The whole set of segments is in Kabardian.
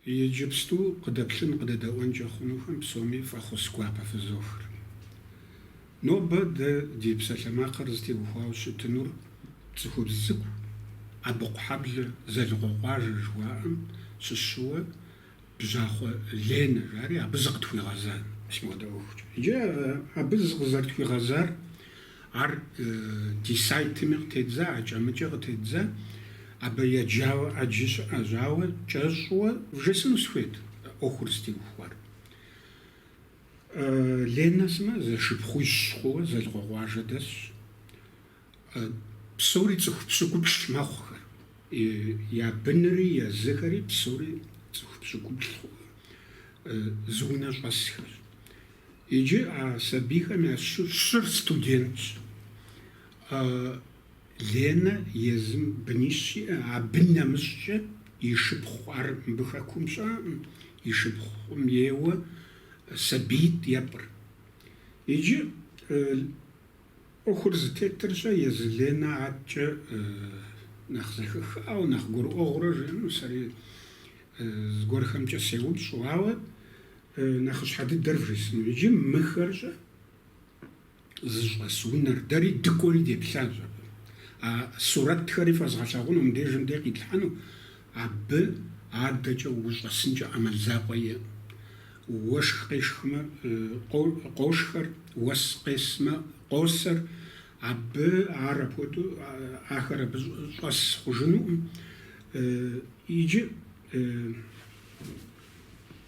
Иджыпсту къыдэплъын, къыдэдэӏуэнкӏэ хъунухэм псоми фӏэхъус гуапэ фызохыр. Нобэ дэ ди псалъэмакъыр зытеухуауэ щытынур цӏыхубз цӏыкӏу, Абыкъухьэблэ Зэлыкъуэкъуажэ жыхуаӏэм щыщыуэ Бжьахъуэ Ленэ жари абы зыкъытхуигъэзащ мыпхуэдэ ӏуэхукӏэ. Иджы абы зыкъызэрытхуигъэзар Ар ди сайтми къытедза, акӏэ-мыкӏэ къытедза. Абы еджауэ ӏэджи щыӏэщ, ауэ кӏэщӏуэ вжесыну сыхуейт ӏуэхур зытеухуар. Ленэ сымэ зэшыпхъуищ хъууэ Зэлыкъуэкъуажэ дэсщ. Псори цӏыху пщыкӏуплӏ мэхъухэр, я бынри езыхэри псори цӏыху пщыкӏуплӏ хъууэ зы унэ щӏэсхэщ. Иджы а сабийхэм я щыр студентщ. Ленэ езым бынищ иӏэ, абы нэмыщӏкӏэ и шыпхъу, ар мыбы хэкум щыӏэкъым, и шыпхъум ейуэ сабиитӏ епӏыр. Иджы ӏуэхур зытетыр-щэ, езы Ленэ аткӏэ нэхъ зэхэхауэ, нэхъ гурыӏуэгъуурэ жиӏэну сэри зыгуэрхэмкӏэ сеупщӏу, ауэ Нэхъыщхьэ дыдэр вжесыну иджы мыхэр-щэ зыщӏэс унэр дэри дыкӏуэри деплъащ абы. А сурэтхэри фэзгъэлъагъуну мыбдежым дей къитлъхьэну абы адэкӏэ ущӏэсынкӏэ ӏэмал закъуэ иӏэ. Уэшх къешхмэ, къошхэр, уэс къесмэ, къосэр. Абы ар апхуэдэу, ахэр абы щӏэс хъужынукъым. Иджы.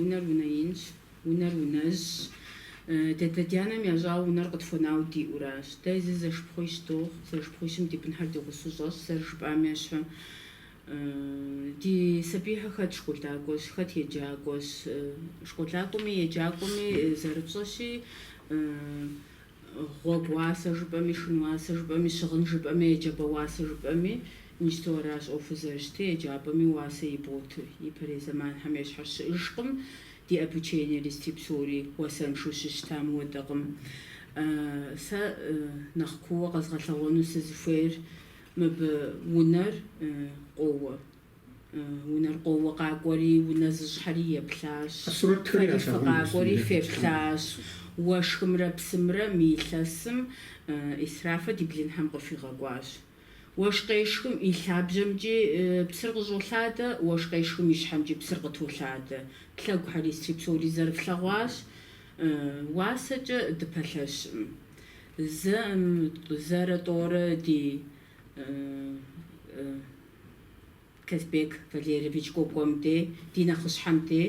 Унэр унэ инщ, унэр унэжьщ. Ди адэ-ди анэм ящӏауэ унэр къытхуэнауэ диӏэу аращ. Дэ зы зэшыпхъуищ дохъу, зэшыпхъуищым ди бынхэр ди гъусэу щӏэсщ, зэрыжыпӏам ещхьу. Ди сабийхэр хэт школакӏуэщ, хэт еджакӏуэщ. Школакӏуэми еджакӏуэми зэрыпщӏэщи, Гъуэгу уасэ жыпӏэми, шхын уасэ жыпӏэми, щыгъын жыпӏэми, еджапӏэ уасэ жыпӏэми, иджыпсту аращ ӏуэхур зэрыщытыр, еджапӏэми уасэ иботыр. Ипэрей зэманхэм ещхьу щыӏыжкъым, ди обучениери сытри псори уасэншэу щыщытам хуэдэкъым. Сэ нэхъ кууэ къэзгъэлъэгъуэну сызыхуейр мыбы унэр къоуэ. Унэр къоуэ къакӏуэри, унэ зыщӏхэри еплъащ. Фэри фыкъакӏуэри феплъащ. Уэшхымрэ псымрэ мы илъэсым ӏисраф ди блынхэм къыхуигъэкӏуащ. Уэшх къешхым и лъабжьэмкӏи псыр къыщӏолъадэ, уэшх къешхым и щхьэмкӏи псыр къытолъадэ. Ди лъэгухэри сытри псори зэрыфлъэгъуащ. Уасэкӏэ дыпэлъэщкъым. Зэ, зэрэ тӏэурэ ди. Казбек Валерьевич Кӏуэкӏуэм де, ди нэхъыщхьэм де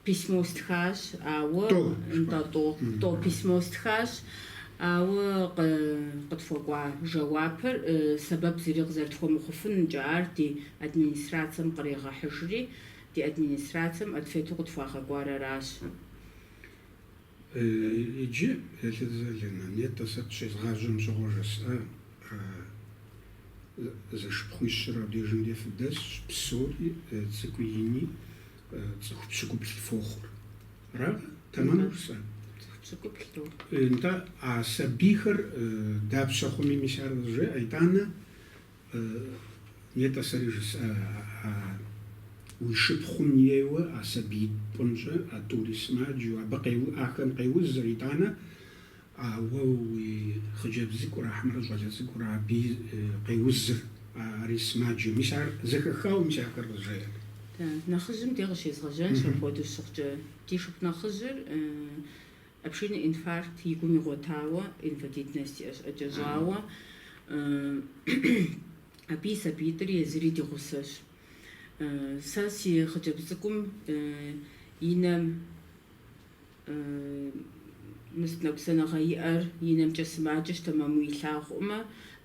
письмо стхащ, ауэ. Тӏо. Нтӏэ, тӏо. Тӏо письмо стхащ, ауэ къытхуэкӏуа жэуапыр сэбэп зыри къызэрытхуэмыхъуфынкӏэ ар ди администрацэм кърегъэхьыжри, ди администрацэм ответу къытхуагъэкӏуар аращ. Иджы, Элиза Лена, нетӏэ сэ щезгъажьэм щыгъуэ жысӏа, зэшыпхъуищыр абдежым де фыдэсщ, псори, цӏыкӏуи ини, цӏыху пщыкӏуплӏ фохъур. Аракъэ? Тэмэму жысӏа? Цӏыху пщыкӏуплӏ дохъу. Нтӏэ, а сабийхэр дапщэ хъуми мис ар къызжеӏэ, итӏанэ Нетӏэ, сэри жысӏэ, а уи шыпхъум ейуэ а сабиитӏ пӏунщӏэ, а тӏури сымаджэу, абы къе, ахэм къеузыр, итӏанэ, а уэ уи хъыджэбз цӏыкӏур, ахьмэрэ щӏалэ цӏыкӏур абы къеузыр, ари сымаджэу. Мис ар зэхэхауэ, мис ахэр къызжеӏэт. Нэхъыжьым де къыщезгъэжьэнщ апхуэдэу щыхъукӏэ. Ди шыпхъу нэхъыжьыр. Обширный инфаркт и гум игъуэтауэ, инвалидность иӏэ щӏэкӏэщӏауэ, абы и сабиитӏри езыри ди гъусэщ. Сэ си хъыджэбз цӏыкӏум и нэм мы сыт, ныкъусаныгъэ иӏэр, и нэмкӏэ сымаджэщ, тэмэму илъагъуӏымэ,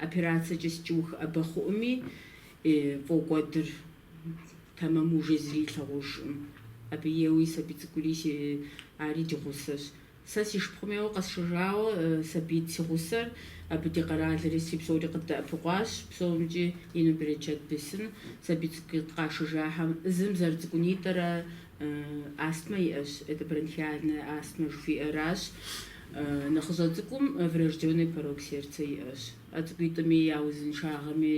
операцэкӏи сыткӏи ухэӏэбэ хъуӏыми, фӏокӏуэдыр. Тэмэму уже зыри илъагъужӏым. Абы еуи сабий цӏыкӏури си, ари ди гъусэщ. Сэ си шыпхъум еуэ къэсшэжауэ сабиитӏ си гъусэр, абы ди къэралри си псори къыддэӏэпыкъуащ, псомкӏи ину берычэт бесын. Сабий цӏыкӏу къашэжахэм зым зэрыцӏыкӏунитӏэрэ астмэ иӏэщ, это бронхиальная астма жыхуиӏэращ. Нэхъыщӏэ цӏыкӏум врожденный порок сердца иӏэщ. А цӏыкӏуитӏми я узыншагъэми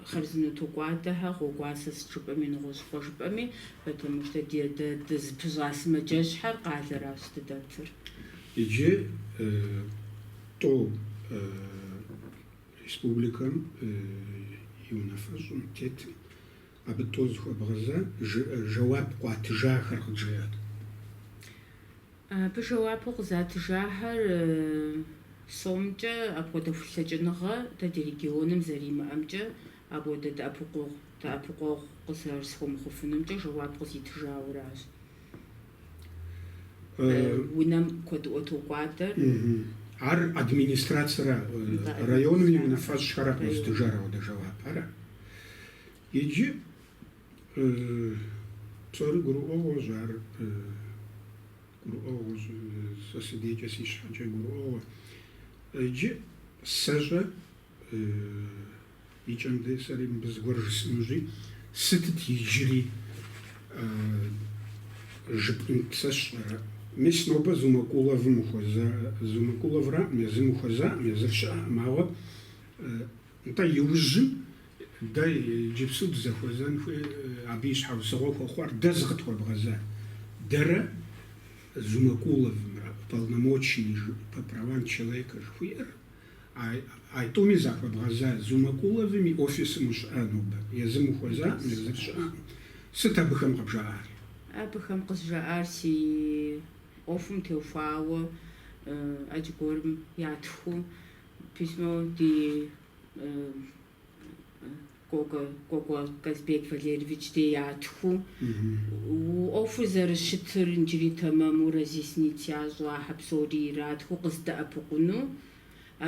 Хъарзынэу токӏуадэхьэ гъуэгуасэ сыт жыпӏэми нэгъуэщӏ хъуэ жыпӏэми, потому что ди, дэ дызыпыщӏа сымаджэщхьэр къалэращ дыдэтыр. Иджы тӏо республикэм и унафэщӏым тетым, абы тӏо зыхуэбгъэза жэуап къуатыжахэр къыджеӏэт. Абы жэуапу къызатыжахэр сомкӏэ апхуэдэ хулъэкӏыныгъэ дэ ди регионым зэримыӏэмкӏэ, апхуэдэ дэӏэпыкъуэгъу дэӏэпыкъуэгъу къызэрысхуэмыхъуфынумкӏэ жэуап къызитыжауэращ. Унэм куэдыӏуэ токӏуадэр. Ар администрацэра, районым и унафэщӏхэра къызытыжар апхуэдэ жэуапхэр? Иджы. Псори гурыӏуэгъуэщ ар, гурыӏуэгъуэщ, сэ си дейкӏэ си щхьэкӏэ гурыӏуэгъуэ. Иджы сэщӏэ, икӏэм дей сэри мыбы зыгуэр жысӏэнущи, сытыт иджыри жыпӏэнт сщӏэрэ? Мис нобэ Зумакуловым ухуэза, Зумакуловраӏым, езым ухуэзаӏым, езыр щыӏэкъым, ауэ нтӏэ иужьым Дэ иджыпсу дызэхуэзэн хуей абы и щхьэусыгъуэ хуэхъуар дэ зыкъытхуэбгъэза дэрэ Зумакуловымрэ уполномоченный по правам человека жыхуиӏэр, а итӏуми захуэбгъэза Зумакуловым и офисым ущыӏэ нобэ, езым ухуэзакъым, езыр щыӏэкъым. Сыт абыхэм къыбжаӏар? Абыхэм къызжаӏар си ӏуэхум теухуауэ ӏэджэ гуэрым ятхыу письмо ди Кӏуэкӏуэ Казбек Валерьевич дей ятхыу, ӏуэхур зэрыщытыр иджыри тэмэму разъяснить ящӏу, ахьэ псори иратхыу къыздэӏэпыкъуну,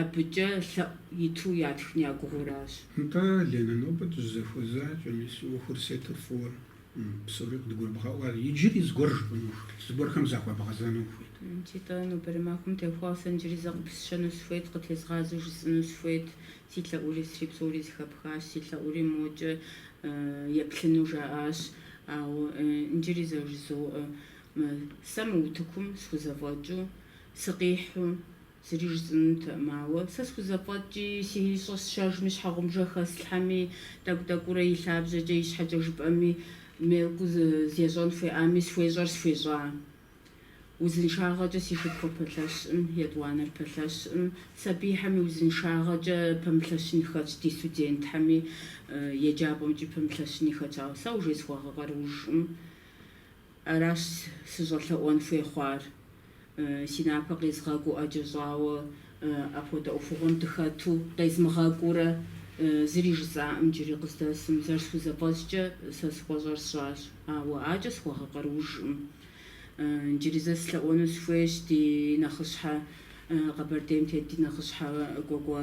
абыкӏэ лъэӏу иту ятхын я гугъэу аращ. Нтӏэ, Ленэ, нобэ дызэхуэзакӏэ, мис, уи ӏуэхур зытетыр фӏыуэ. Псори къыдгурыбгъэӏуа. Иджыри зыгуэр жыпӏэну ухуейт, зыгуэрхэм захуэбгъэзэну ухуейт. Нтитӏэ, нобэрей махуэм теухуауэ сэ иджыри зэ къыпысщэну схуейт, къытезгъазэу жысӏэну схуейт. Си лъэӏури сри псори зэхэпхащ, си лъэӏури мокӏэ еплъыну жаӏащ. Ауэ иджыри зэ жызоӏэ, Сэ мы утыкум схузэфӏэкӏыу, сыкъихьу, Зыри жысӏэнутэкъым, ауэ сэ схузэфӏэкӏи, си ищӏэ сщэжми, щхьэгъубжэ хэслъхьэми, тӏэкӏу-тӏэкӏуурэ и лъабжьэкӏэ, и щхьэкӏэ жыпӏэми, мелкэу зещӏэн хуеями, схуещӏэр схуещӏа. Узыншагъэкӏэ си шыпхъур пэлъэщӏым, етӏуанэр пэлъэщӏым, сабийхэми узыншагъэкӏэ пэмылъэщын хэтщ, ди студентхэми еджапӏэмкӏи пэмылъэщыни хэтщ, ауэ сэ уже схуэгъэкъаруужӏым. Аращ сыщӏэлъэӏуэн хуей хъуар. Си напэ къезгъэкӏуу ӏэджэ щӏауэ апхуэдэ ӏуэхугъуэм дыхэту, къезмыгъэкӏуурэ, зыри жысӏаӏым иджыри къыздэсым. Зэрысхузэфӏэщӏкӏэ, сэ схуэщӏэр сщӏащ, ауэ адэкӏэ схуэгъэкъаруужкъым. Иджыри зэ слъэӏуэну схуейщ ди нэхъыщхьэ, Къэбэрдейм тет ди нэхъыщхьэ Кӏуэкӏуэ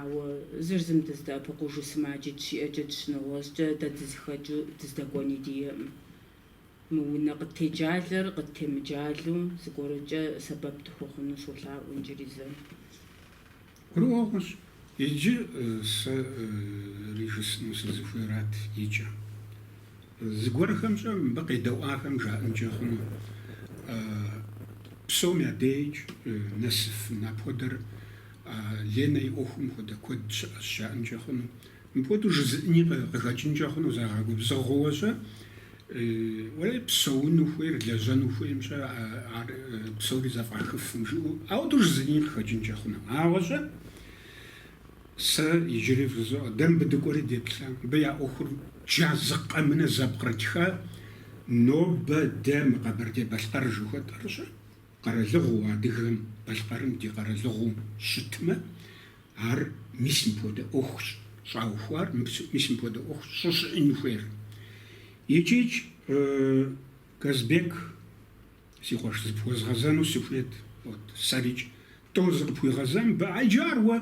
Ауэ зыр зым дыздэӏэпыкъужу сымаджэ дыщиӏэкӏэ, дыщынэгъуэщӏкӏэ дэ дызыхэкӏыу дыздэкӏуэни диӏэкъым. Мы унэ къыттеджалэр къыттемыджалу зыгуэркӏэ сэбэп тхуэхъуну солъаӏуэ иджыри зэ. Гурыӏуэгъуэщ, иджы сэри жысӏэну сызыхуейрат икӏэ. Зыгуэрхэмкӏэ мыбы къедэӏуахэм жаӏэнкӏэ хъуну, псом я деж нэсыф мыпхуэдэр А Ленэ и ӏуэхум хуэдэ куэд щыӏэщ, жаӏэнкӏэ хъуну. Мыпхуэдэу жызыӏни къыхэкӏынкӏэ хъуну, загъэгубзыгъэуэ-щэ? Уэ псэуну хуейр, лэжьэну хуейм-щэ ар псори зэфӏахыфым жыӏэу, ауэдэу жызыӏни къыхэкӏынкӏэ хъуну. Ауэ-щэ? Сэ иджыри фызоӏэ, дэ мыбы дыкӏуэри деплъа. Мыбы я ӏуэхур джа, зы къэмынэ зэпкърытха, нобэ дэ мы Къэбэрдей-Балъкъэр жыхуэтӏэр-щэ? Къэралыгъуэу адыгэм балъкъэрым ди къэралыгъуэу щытмэ, ар мис мыпхуэдэ ӏуэхущ щӏаухуар, мис мыпхуэдэ ӏуэхущ щӏыщыӏэн хуейр. Икӏикӏ, Казбек, си къуэш, зыпхуэзгъэзэну сыхуейт, вот, сэрикӏ, тӏо зыкъыпхуигъэзэн, ба, иджы ар уэ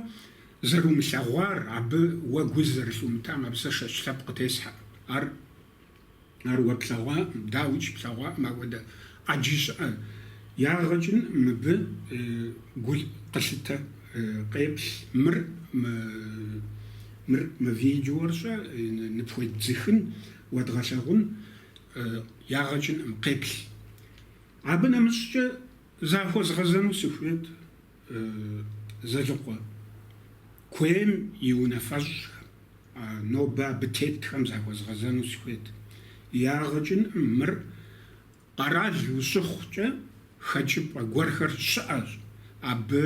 зэрумылъэгъуар, абы уэ гу зэрылъумытам абы сэ шэч лъэпкъ къытесхьэӏым, ар Ар уэ плъэгъуаӏым, дауикӏ плъэгъуаӏым, апхуэдэ ӏэджи щыӏэ. Ягъэкӏынӏым, мыбы гу къылъытэ, къеплъ мыр, мыр мы видеор щӏэ ныпхуедзыхын, уэдгъэлъэгъун, ягъэкӏынӏым, къеплъ. Абы нэмыщӏкӏэ захуэзгъэзэну сыхуейт. Зэлыкъуэ куейм и унафэщӏхэм, нобэ абы тетхэм захуэзгъэзэну сыхуейт. Ягъэкӏынӏым, мыр къэрал ущыхъукӏэ, хэкӏыпӏэ гуэрхэр щыӏэщ. Абы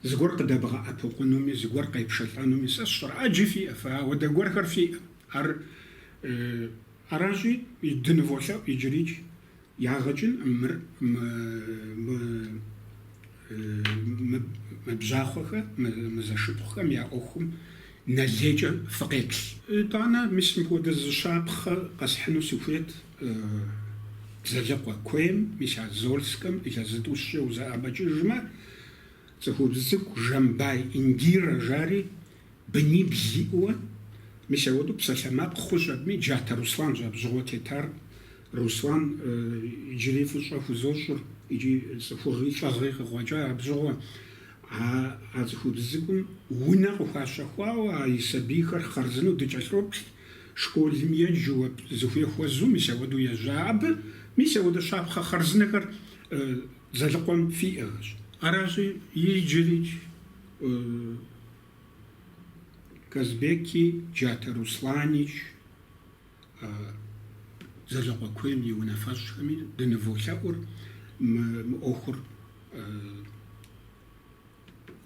зыгуэр къыдэбгъэӏэпыкъунуми, зыгуэр къепшэлӏэнуми сэ сщӏэрэ, ӏэджи фиӏэ, фэ ауэдэ гуэрхэр фиӏэ. Ар аращи, дыныволъэӏу иджырикӏ. Ягъэкӏын мыр мы Бжьахъуэхэр, мы зэшыпхъухэм я ӏуэхум нэ лейкӏэ фыкъеплъ. Итӏанэ мис мыпхуэдэ зы щапхъэ къэсхьыну сыхуейт Зэлыкъуэ куейм, мис а Зольскэм илъэс зытӏущкӏэ узэӏэбэкӏыжмэ, цӏыхубз цӏыкӏу Жэмбай Индирэ жари Бынибл зиӏэуэ, мис ауэдэу псалъэмакъ хъущ абыми, Джатэ Русланщ абжьыгъуэ тетар. Руслан иджыри фӏыщӏэ хузощӏыр икӏи цӏыхугъи лӏыгъи къыкъуэкӏа абжьыгъуэ. А а цӏыхубз цӏыкӏум унэ къыхуащэхуауэ а и сабийхэр хъарзынэу дыкӏэлъоплъ, школым еджэуэ, зыхуей хуэзу, мис ауэдэу ежьа абы. Мис ауэдэ щапхъэ хъарзынэхэр Зэлыкъуэм фиӏэщ. Аращи, иджырикӏ Казбеки Джатэ Русланикӏ Зэлыкъуэ куейм и унафэщӏхэми дыныволъэӏур мы ӏуэхур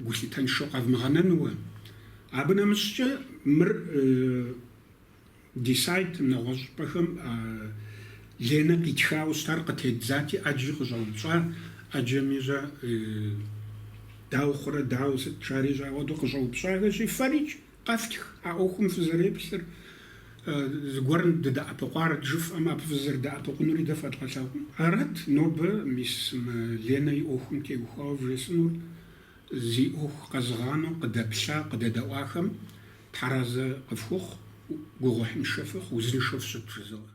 гулъытэншэу къэвмыгъэнэнууэ. Абы нэмыщӏкӏэ мыр Ди сайтым нэгъуэщӏыпӏэхэм Ленэ къитхауэ щытар къытедзати, ӏэджи къыщӏэупщӏа, ӏэджэми, щӏэ дауэ хъурэ, дауэ сыт, жари, щӏэ, ауэдэу къыщӏэупщӏахэщи, фэрикӏ, къэфтх а ӏуэхум фызэреплъыр, зыгуэрым дыдэӏэпыкъуар жыфӏэмэ, абы фызэрыдэӏэпыкъунури дэ фэдгъэлъэгъуну. Арат нобэ мис мы Ленэ и ӏуэхум теухуауэ вжесӏэнур, зи ӏуэху къэзыгъанэу къыдэплъа, къыдэдэӏуахэм Тхьэразэ къыфхухъу, гугъуехьыншэ фыхъу, узыншэу фыщыт, жызоӏэ.